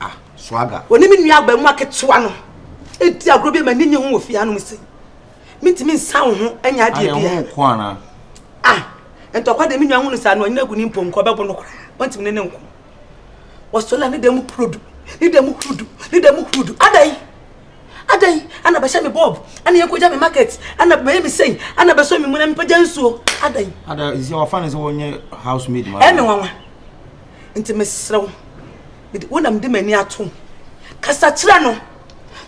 ah swaga ɔne me nua abaamua ketewa no ɛdi agorɔ bi ma ne nye ho wɔ fie hanom se mentumi nsa wo ho anya adeɛ bia ah ntɔkwa deɛ me nua hu no saa no ɔnyina agu ne mpɔnkɔ ɔbɛbo no koraa ɔntumi ne ne nko wɔsɔla ne da mu purodu ne da mu hurudu ne da mu hurudu adai adai ana bɛhyɛ me bob ana yɛkɔgya me market ana bɛyɛ me sɛi ana bɛsɔ me mu na mepɛgya nsuo adai ada sɛ wɔfa no sɛ wɔnyɛ house maid ma ɛme nwanwa Nti mesrɛ wo, wo na mede m'ani atom. Kasa kyerɛ no.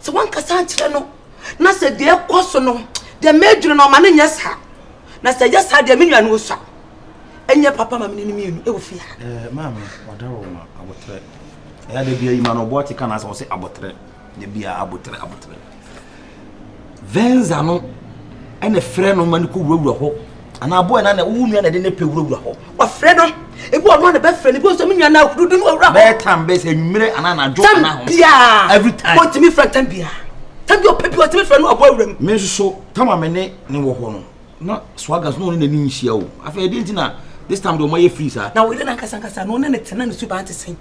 Sɛ woankasa ankyerɛ no na sɛ deɛ ɛkɔ so no deɛ mɛdwene no ɔma no nyɛ saa. Na sɛ ɛyɛ saa deɛ me nua no ɔsua. Ɛnyɛ papa ma mene no mmienu ɛwɔ fie ha. Eh, maame, wada wo ma abotrɛ. Ɛyɛ da bia yi ma no ɔboɔ ate ka na asɛ ɔse abotrɛ. na bi a abotere abotere venza no ɛna frɛ no ma no kɔ wurawura hɔ anaa aboa na na wo nua na de ne pɛ wurawura hɔ wɔfrɛ no ebi ɔno na bɛfrɛ no ebi ɔsɛ me nua na ahuru de no ɔwura hɔ bɛɛ tam bɛɛ sɛ nwumere anaa anadwo anaa ho tam biara every time ɔtumi frɛ tam biara tam bi ɔpɛ bi ɔtumi frɛ no aboa wura mu. me nso tam a me ne ne wɔ hɔ no na swagas na ɔne n'ani nhyia o afei ɛdi nti na this time de ɔmo ayɛ free saa. na ɔyere n'ankasa nkasa na ɔne ne tena ne suban te sɛn.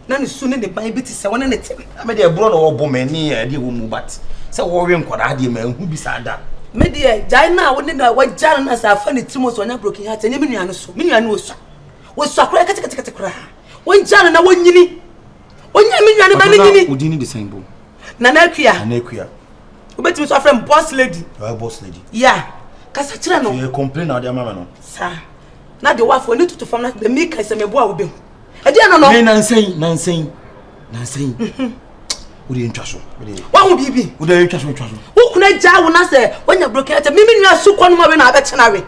Na ne su ne ne ban bi te sɛ wɔne ne tem. Na me deɛ borɔ na wɔbɔ me ne adeɛ ɛwɔ mu but sɛ wɔwe nkwadaa deɛ manhu bi saa da. Me deɛ gyae no a wo ne no a wagya no no a sɛ afa ne tirim sɛ ɔnya broken heart ɛnyɛ me nua no so. Me nua no ɔsua. Ɔsua koraa ketekete koraa. Wɔngya no na wɔnyini. Ɔnyɛ me nua no ma no nyini. Ɔno odin no de sɛn bo? Nana Akua. Nana Akua. Wobɛtumi nso afrɛ me boss lady. Ɔyɛ boss lady. Ya. Kasa kyerɛ no. Yɛ complain na ɔde ama me no. Saa. Na deɛ wɔafɔ ne tutu fam na deɛ meka sɛ meboa wobɛhu. ɛdi ɛno no. nansa yi nansa yi nansa yi o de ntwa so. wahu biribi. o de ntwa so ntwa so. o kuna gya wo na sɛ wanya broken ɛtɛ mímí nua su kɔ no ma wei na abɛkyɛ na wei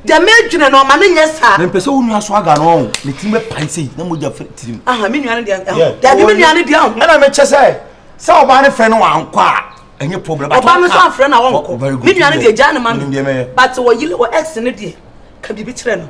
deɛ mɛdwene no ɔma no nyɛ saa mempɛ sɛ wo nua so aga no ɔho ne tirim bɛpae sei na mogya fɛ tirim aha me nua no deɛ dabi me nua no deɛ ho ɛna mekyɛ sɛ sɛ ɔbaa no frɛ no wankɔ a ɛnyɛ problem ɔbaa no so afrɛ no a wɔnkɔ me nua no deɛ gyaa no ma no but wɔyi wɔ ex no deɛ ka biribi kyerɛ no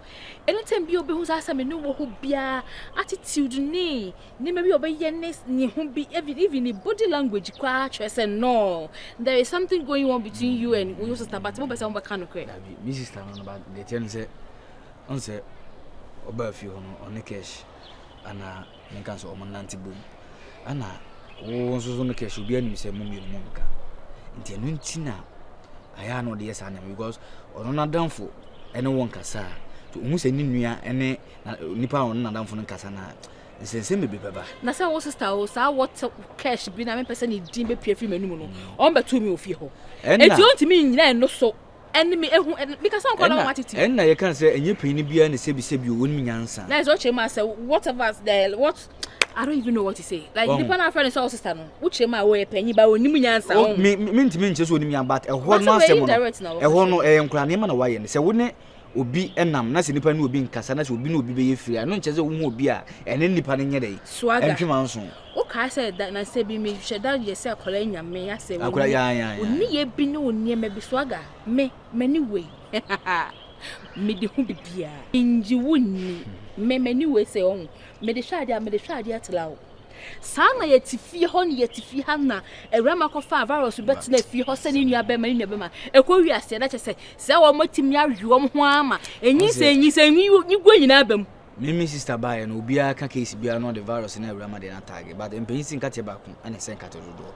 Anytime biara obehu saa sɛ me ne wɔ hɔ biara attitude ne nneɛma bi a ɔbɛyɛ ne ne ho bi even even ne body language koraa kyerɛ sɛ no there is something going on between you and your sister but mo bɛ sɛ mo bɛka no korɛ. Dabi me sister no no ba deɛ kyerɛ ne sɛ ɔn sɛ ɔbaa fie hɔ no ɔne cash ana. menka sɛ wɔn nante bom ɛna wo nso so no kɛse obi anim sɛ mo mmienu mo nka nti ɛno nti na ayɛ a na ɔde yɛ saa nneɛma because ɔno n'adamfo ɛne wɔn kasa a to ohun sɛ ne nua ɛne nipa a ɔno n'adamfo no kasa na nsɛnsɛm bebree bɛba. na sɛ wo sista o saa wɔte cash bi na mepɛ sɛ ne din bɛpia firi m'anim no mm. ɔmbɛto mi ofie hɔ enti ɔntumi nnyina ɛno so Ɛnna yɛka sɛ ɛnyɛ panyin biara na sɛbisɛbi o, wonim nyansa. Nice, wokyerɛ mu a sɛ whatever the what I don't even know what to say. Like Wahu. nipa na afrɛ ne sɛ ɔsesa no, wokyerɛ mu a wɔyɛ panyin ba onim nyansa. O, me me ntumi nkyerɛ sɛ onim nyansa but ɛhɔ But no sɛ asɛm no indirect na wɔka ɛhɔ kyerɛ no ɛyɛ nkora nneɛma na wayɛ no sɛ wo ne obi nam na sɛ nipa ne obi nkasa na sɛ obi ne obi bɛyɛ firi a ɛno nkyerɛ sɛ wohu obi a ɛne nipa no nyɛ dɛ Swagger. ɛntwe manso. o kaa sɛ da na sɛ bi mi hyɛ da yɛ sɛ akɔla yi nya me asɛ o akɔla ya ya o ni yɛ bi ne o nneɛma bi so aga me mɛ ni wei me de ho bibia nyi wo ni mɛ mɛ ni wei sɛ ɔho me de hwɛ adeɛ me de hwɛ adeɛ tra o saa na yɛ ti fie hɔ ne yɛ ti fie ha na awura ma kɔ fa virus bɛ tena fie hɔ sɛ ne nua bɛ ma ne nua bɛ ma ɛkɔ wi aseɛ na kyɛ sɛ sɛ wɔn ti mi awi wɔn ho ama enyi sɛ enyi sɛ enyi gua nyinaa bɛ mu. Me me sister baeɛ no obiara ka case biara na ɔde virus na awura ma deɛ na tag but mpanyin si nkateɛ baako ɛna ɛsɛ nkateɛ dodoɔ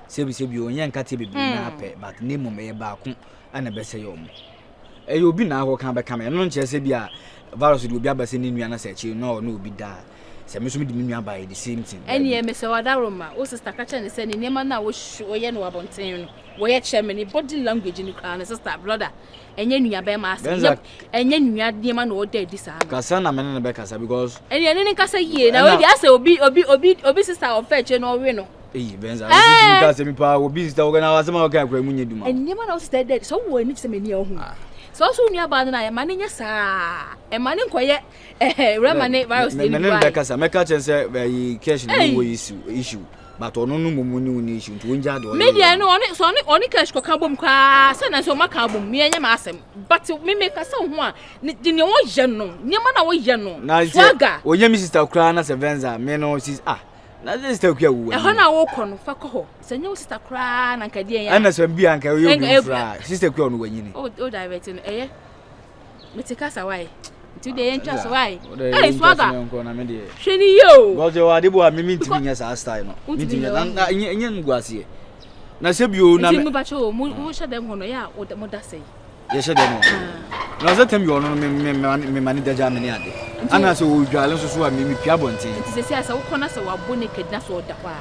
sebi sebi ɔnyɛ nkateɛ bebree na apɛ hmm. but ne mmom ɛyɛ baako ɛna ɛbɛsɛ yɛ ɔmo ɛyɛ obi na akɔ kan bɛka me ɛno nkyerɛ sɛ bi a virus de obi aba sɛ ne nua na sɛ akyire na ɔne obi daa sɛ me nso mi de me nua baeɛ the same thing. ɛni ɛmi sɛ wadaro ma o sista kakyɛ ne sɛ ne nneɛma no a wɔyɛ no abɔnten no wɔyɛ kyerɛ me ne body language no koraa ne sista broda ɛnyɛ nuabarima asɛm Benza yɛp ɛnyɛ nua nneɛma na ɔda adi saa no kasa na me ne no bɛkasa because ɛne ɛne ne nkasa yie na ɛna ɔdi asɛ obi obi obi obi sista a ɔfɛ akyire na ɔwe no eyi Benza wo sisi ɛɛ ka sɛ mi paa obi sista wo kana asɛm a wɔka akora mu nyɛ duma o nneɛma na wo sista da adi sɛ wowɔ ani te sɛ m'ani a wohu ah sɛ wo so wo nuabaa no no a ɛma no nyɛ saa ɛma no nkɔyɛ ɛhɛ wura ma ne virus me deɛ me ne no ne bi no wae bɛkasa mɛka kyerɛ no sɛ ɛyi cash no ɛyi wɔ issue issue but ɔno no mmom ne wo ne issue nti wongyaa deɛ ɔyɛ yɛ no. Medeɛ sɛ ɔne ɔne cash kɔka bom koraa sɛ na sɛ ɔmaka bom meɛ nyɛ m'asɛm but me meka sɛ ho a ne deɛ wɔyɛ no nneɛma na wɔyɛ no swagger. Ɔnyɛ me sister koraa na sɛ venza me no sis ah na sɛ sister kua wuwa. Ɛhɔ na wokɔ no fa kɔ hɔ sɛ nyɛ wo sister koraa na nka deɛ yɛ. Ɛna sɛ bi anka ɔyɛ obi fura sister kua ɔno wanyini. O o direct no ɛyɛ. mete kasa wae nti deɛ yɛntwa so wae ɛyɛ swaga hwɛ ne yie o bɔsɛ wɔ ade bɔ a mimi ntumi nyɛ saa style no ntumi nyɛ na na nyɛ nyɛ ngu aseɛ na sɛ bio na nti mo bɛkyɛ o mo mo hyɛ dɛm hɔ no yɛ a mo da sɛ yi yɛ hyɛ dɛm hɔ na ɔsɛ tɛm bi ɔno no me ma ne dagya me ne ade ana sɛ ɔdwale nso so a mimi pia bɔnten nti sɛ sɛ sɛ wokɔ na sɛ wabo ne kɛdina so ɔda hɔ a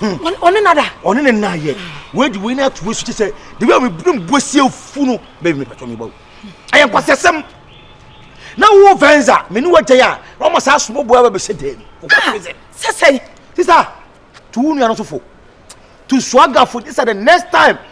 ɔne nada ɔne ne nna yɛ wei de wei no ato asu kyɛ sɛ de wei a mebere mbuasie afu no bɛbi mepatɔ mebɔ wo ɛyɛ nkwasɛsɛm na wo venza me ne wagyae a na ɔma saa somoboa ba bɛhyɛ dan mu sɛsɛe sisa to wo nua no so fo to suagafo sisa the next time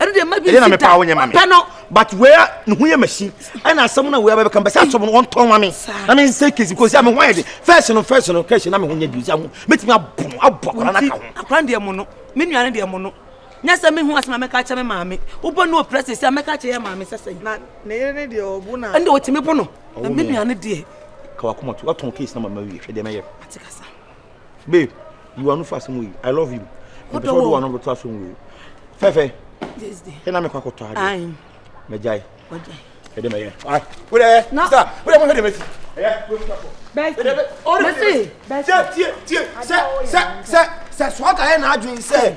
ɛno deɛ magi ɛyɛ na mepa wo nyɛ ma me pɛ no but wea ne ho yɛ machine ɛna asɛm no wea bɛbɛka bɛsɛ asɔm no wɔntɔn ma me na me nsɛ kesi kosi a me ho ayɛ de fɛs no fɛs no kɛhyɛ na me ho nyɛ bio si aho mɛtumi abɔ no abɔ akora no aka ho akora deɛ mo no me nua no deɛ mo no nyɛ sɛ mehu asɛm a mɛka kyɛ me maame wobɔ no ɔpirɛ sɛ sɛ a mɛka kyɛ yɛ maame sɛ sɛ na ne yere ne deɛ ɔbo no ɛnde ɔtumi bo no na me nua no deɛ kawakoma to watɔn case na mama wie hwɛ deɛ mɛyɛ atekasa babe you are no fast mo yi i love you mpɛsɛ ɔde wɔn bɛto aso mu wei fɛfɛ ɛna mekɔ akɔtɔ adeɛ mɛgyae ɛde mɛyɛ wodɛ sa wodɛ mohwɛ de mɛsi sɛ sɛ sɛ sɛ sɛ soata yɛ n'adwene sɛ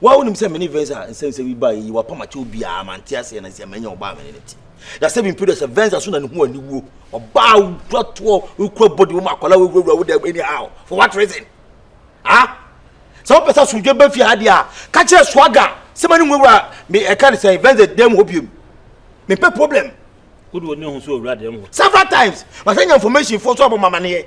Wa wonim sɛ me ne Venza nsɛmsɛm yi baa yi wapam akyɛ obiara ma nte aseɛ na nsia manya ɔbaa me ne ne te. Na sɛ mempɛ dɛ sɛ Venza so na ne ho aniwuo ɔbaa wokura toɔ wokura bɔde wɔm akwadaa wowurawura wo dɛm anyhow for what reason? Ah? Sɛ wopɛ sɛ asomdwe bɛ fie ha deɛ a ka kyerɛ swaga sɛ ma ne nwurawura me ɛka ne sɛn Venza dɛm hɔ biom mempɛ problem. Wode wɔ ne ho so owura dɛm hɔ. Several times masɛ nya information foɔ so abɔ mamaneɛ.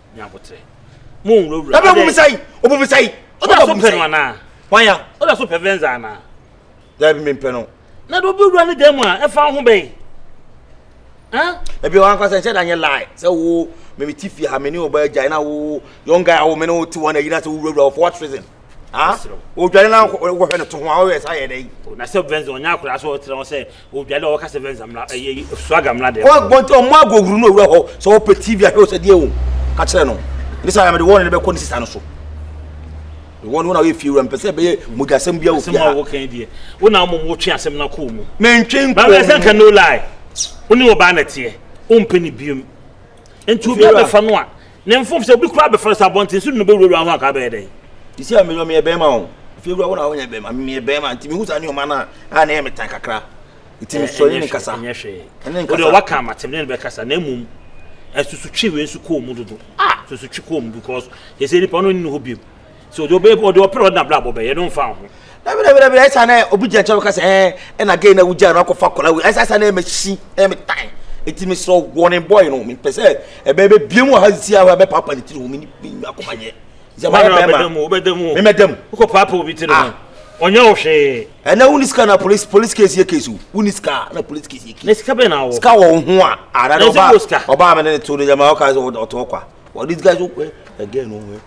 nya abotrɛ mo nwurawura ɛbɛ bom sɛi ɔbom sɛi ɔda so pɛ no anaa wanya ɔda so pɛ venza anaa daabi mempɛ no na de obi wura ne dan mu a ɛfa ho bɛn ebi wɔn ankasa nhyɛ da nyɛ lie sɛ wo mɛmi ti fi ha mɛ ni o ba gya na wo young guy awo mɛ ni o ti wɔn ayi na sɛ wo wura wura for what reason ah odware na wɔhwɛ no to ho a wɔyɛ sa yɛ dɛ yi. na sɛ bɛnzi ɔnyɛ akora so ɔtena hɔ sɛ o dade ɔwɔ kasa venza mla ɛyɛ eh, swaga mla dɛ ɔwɔ bɔnti ɔmo agohuru no owura hɔ sɛ ɔpɛ tv ahwɛ ɔsɛ deɛ o ka kyerɛ no ne sɛ ayamede wɔn ne bɛkɔ ne sisa no so wɔn wɔn a wɔyɛ fie wura mpɛ sɛ ɛbɛyɛ mogyasɛm bi a obi a asɛm a wɔkɛn deɛ wɔn na wɔn wɔtwe asɛm na kɔɔ mu mentwe nkɔɔ mu baabi ɛsɛ nka no lie wɔn ne wɔbaa na teɛ wɔn mpɛ ne biom nti obi abɛfa no a Ne mfom sɛ obi koraa bɛfrɛ sɛ abɔnten so de no bɛwurawura ho anka abɛyɛ dɛn? Sisi a meyɔ meyɛ bɛrima o fiewura wo na wonyɛ bɛrima meyɛ bɛrima nti mehu saa nneɛma no a a na ɛyɛ me tan kakra nti mesɔre ne kasa ɛnyɛ hwee ɛne nkasa wode waka amatem ne ne bɛkasa na mmom asusutwe wei nso kɔɔ mu dodo ah susutwe kɔɔ mu because yɛsɛ nipa no nni hɔ biom so ɔde ɔbɛ ɔde ɔpere ɔde n'abrabɔ bɛyɛ no nfa ho. dabi dabi dabi ɛsa na obi gyina nkyɛn ɔka sɛ ɛɛ ɛna gay na wogya no akɔfa akɔla wei ɛsa ɛsa na ɛmɛ si ɛmɛ tan eti mi srɛ wɔne bɔɔl no mi pɛ sɛ ɛbɛ ɛbɛ bie mu ɔha si ahɔ ɛbɛ paapa ne tiri ho mi ni mi ni akoma nyɛ zɛma yɛ bɛɛ ma mi mɛ dɛm. wokɔ paapa obi tiri ho ɔnyɛ wo hwee. ɛnɛ wo ni sika na polisi polisi kesi yɛ kesi o wo ni sika na polisi kesi yɛ kesi. na sika bɛ na wɔ. sika wɔ wo ho a. ara na ɔbaa ɔbaa mi ne ne to ne yɛ ma ɔka sɛ ɔtɔ ɔkwa ɔdi sika so ɛ ɛgɛ no ɛ.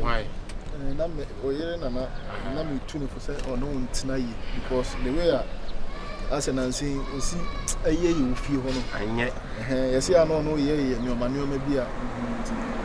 Why? And I'm oyere na na na me tune for say or no ntina yi because the way I as an ansi osi eye yi ofie ho no. Anye. Eh, yesi ano no ye ye nyoma nyoma bi a.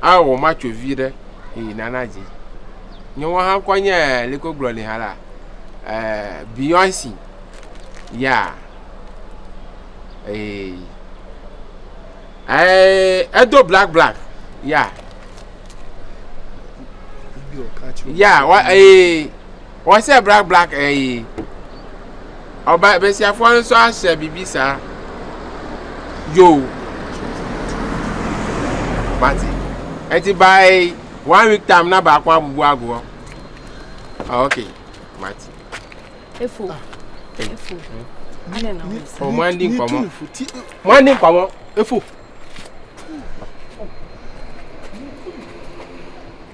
a o ma co vi ɖe e nana dzi nye wo ha ŋkɔ nye leke wo gblɔ ni ha la beyonce ya e edo black black ya ya wa e Wɔ sɛ black black ɛyi. Ɔba besiafoɔ no nso ahyɛ biribi saa. Yo. Mate. Ɛti by one week time na baako abubu agu hɔ. Ah, okay. Mate. Efo. Ah. Efo. Ade na wɔn sɛ. Wɔn andi nkɔmɔ. Wɔn andi nkɔmɔ. Efo.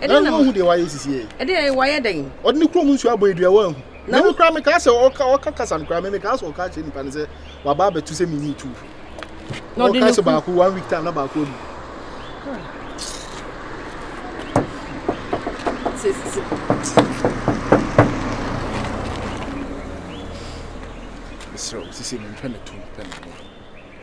na ɛno ɔhu deɛ wayɛ sisi yɛ ɛdeɛ wayɛ dɛn ɔde ne kurom nsuo abɔ adua wɔahu na wo kora mekaa sɛ ɔka ɔka kasa no kora me mekaa sɛ ɔka akyerɛ nipa no sɛ waba abɛto sɛ menyi tu na ɔka sɛ baako one week time na baako amu mesrɛ wo sisi mentwɛ ne to mpɛ ne ho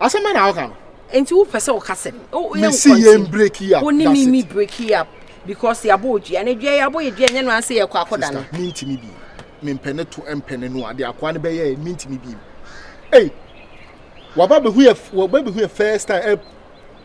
Asɛm bɛn na ɔka no? Nti wopɛ sɛ ɔka sɛ mesi yɛn break yi up wo ne me mi break yi up because yɛabɔ odua na dua yɛabɔ yɛ dua nyɛ no anse yɛkɔ akɔda no mentumi bi mempɛ ne to mpɛ ne no ade akoa no bɛyɛ mentumi bi ei waba bɛhu yɛ waba bɛhu yɛ first time